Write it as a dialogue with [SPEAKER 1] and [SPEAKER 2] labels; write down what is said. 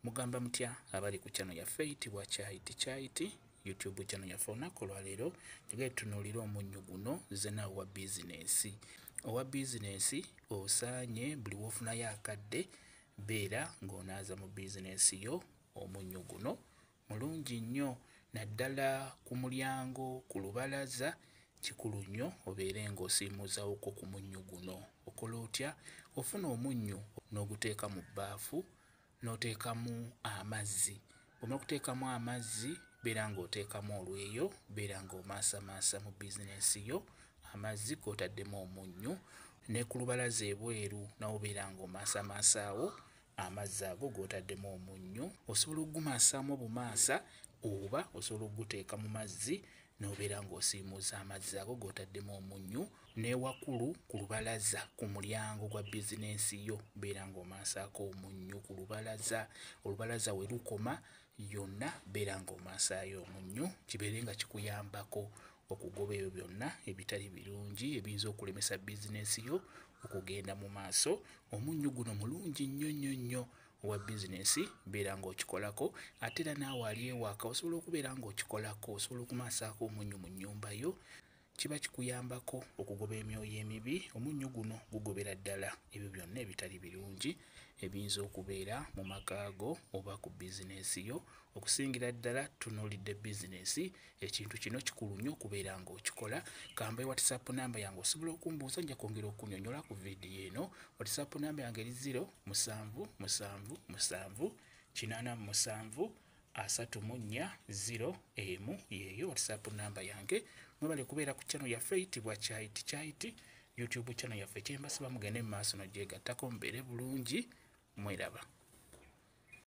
[SPEAKER 1] mugamba mutya abali ku channel yaffe eyitibwa kyayiti kyayiti youtube channel yaffe olunaku olwaleero njagala tunuulira omunnyo guno zena owa bizinensi owa bizinensi osaanye buli wofunayo akadde beera ng'onaaza mu bizinensi yo omunnyo guno mulungi nnyo naddala ku mulyango ku lubalaza kikulu nnyo obeere ng'osiimuuzawoko ku munnyo guno okola otya ofuna omunnyo n'oguteeka mu bbaafu n'oteekamu amazzi bwomala okuteekamu amazzi beera ng'oteekamu olweyo beera ng'omaasamaasa mu bizinensi yo amazzi g'otaddemu omunnyu ne ku lubalaza ebweru nawo beera ng'omaasamaasaawo amazzi ago g'otaddemu omunnyu osobola okugumaasaamu obumaasa oba osobola okuguteeka mu mazzi n'obeera ng'osiimuuza amazzi ago g'otaddemu omunnyu n'ewakulu ku lubalaza ku mulyango gwa bizinensi yo beera ng'omansaako omunnyu ku lubalaza olubalaza we lukoma yonna beera ng'omansaayo omunnyu kibeere nga kikuyambako okugoba ebyo byonna ebitali birungi ebiyinza okulemesa bizinensi yo okugenda mu maaso omunnyu guno mulungi nnyo nnyo nnyo wa bizinesi beera ng'okikolako ate era naawe ali ewaka osobola okubeera ng'okikolako osobola okumaasaako omunnyu mu nnyumba yo kiba kikuyambako okugoba emyoyo emibi omunnyu guno gugobera ddala ebyo byonna ebitali birungi ebiyinza okubeera mu makaago oba ku bizinesi yo okusingira ddala tunuulidde bizinesi ekintu kino kikulu nnyo okubeera ng'okikola kamba e whatsapp namba yange osobola okumbuuza nja kwongera okunyonyola ku vidiyo eno whatsapp namba yange eri 0 musanvu musanvu musanvu kinaana mu musanvu asatu mu nnya 0 emu yeeyo whatsapp namba yange mwebale kubeera ku channel yaffe eyitibwa kyayiti kyayiti youtube channel yaffe kyembasiba mugende mu maaso nogyegattako mubeere bulungi mweraba